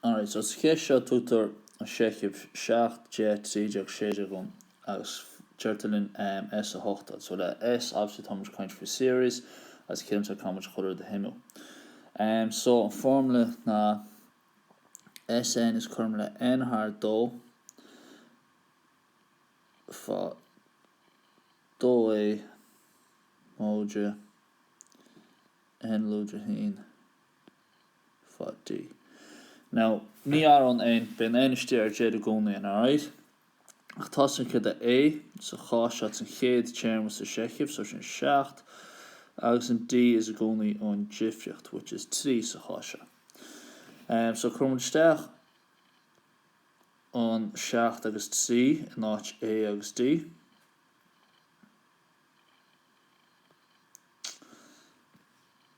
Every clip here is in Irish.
Alright, so sa cheist seo tugtar an seicheamh 7, 10, 13, 16 dhúinn agus deirtear linn S 8 a fháil. So le S obviously táimid ag caint faoi series agus ciallaíonn sé táimid chun rud a shuimiú. So an formula ná SN is cothrom le N thar 2 fá 2A móide N lúide a haon fá D, Now, ní athraíonn N, bíonn N istigh ar deireadh i gcónaí ann alright ach tá a fhios againn céard é A sa chás seo it's an chéad téarma sa seicheamh so sin seacht agus an D is i gcónaí an difríocht which is trí sa chás seo em so cuirimid isteach an seacht agus trí in áit A agus D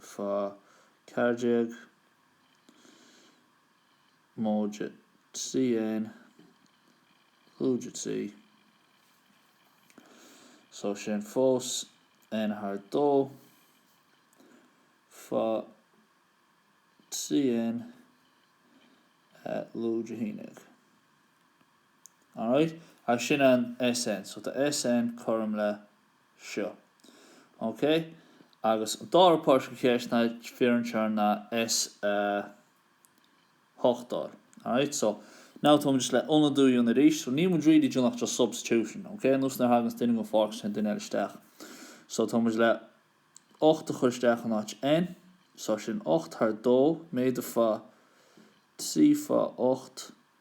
fá 14 móide trí N lúide trí. So sin fós N thar dó fá trí N lúide a haon déag. Alright? Agus sin an SN. So tá SN cothrom le. seo. OK? Agus an dara páirt den cheist ná fiafraíonn sé ná S8 a fháil. Alright? So, now táimid just le ionadú a dhéanamh arís. So níl muid really ag déanamh ach just substitution. OK? Nós nuair a thaganns duine den pháirc téann duine eile isteach. So táimid le 8 a chur isteach in áit N. So sin 8 thar 2 méadaithe fá 3 fá 8.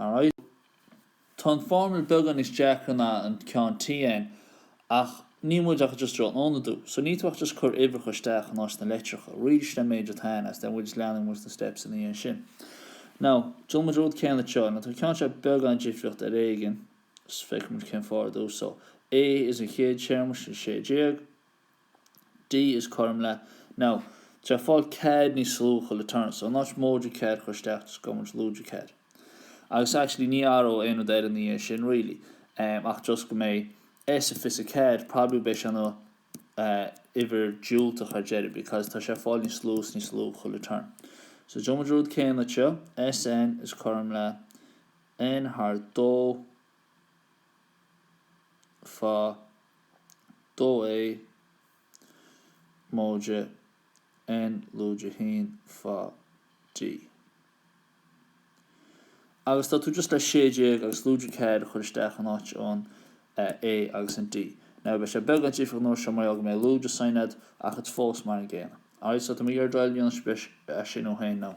Alright. Tá an formula beagán níos deacra ná an ceann TN ach níl muid ach just ag ionadú. So níl tú ach just ag cur uimhreacha isteach in áit na litreacha. Ríomh síos an méid atá ann agus then we'll just leanfaidh muid na steps ina dhiaidh sin. Now, déanfaidh muid an rud céanna seo. Now tá an ceann seo beagán difríocht ar éigin. Just feicfidh muid cén fáth ar dtús. So, A is an chéad téarma, sin 16. D is cothrom le Now, tá sé ag fáil ceathair níos lú chuile turn so not móide ceathair a chur isteach just gabhfaidh muid lúide ceathair agus actually ní athróidh aon rud eile ina dhiaidh sin really em ach just go mbeidh S a fiche ceathair probably beidh sé ina eh uimhir diúltach ar deireadh because tá sé ag fáil níos lú is níos lú chuile turn so déanfaidh muid rud céanna seo SN is cothrom le N thar dó faoi dhó a móide n lúide a haon faoi D. Agus tá tú just le sé déag agus lúide céad a chur isteach in áit an a agus an D. Now, beidh sé beagán difriúil an uair seo mar gheall go mbeidh lúide sign agat ach it's fós mar an gcéanna. Alright, so tá mé ag iarraidh oraibh triail a dhéanamh anois, beidh sé sin againn now.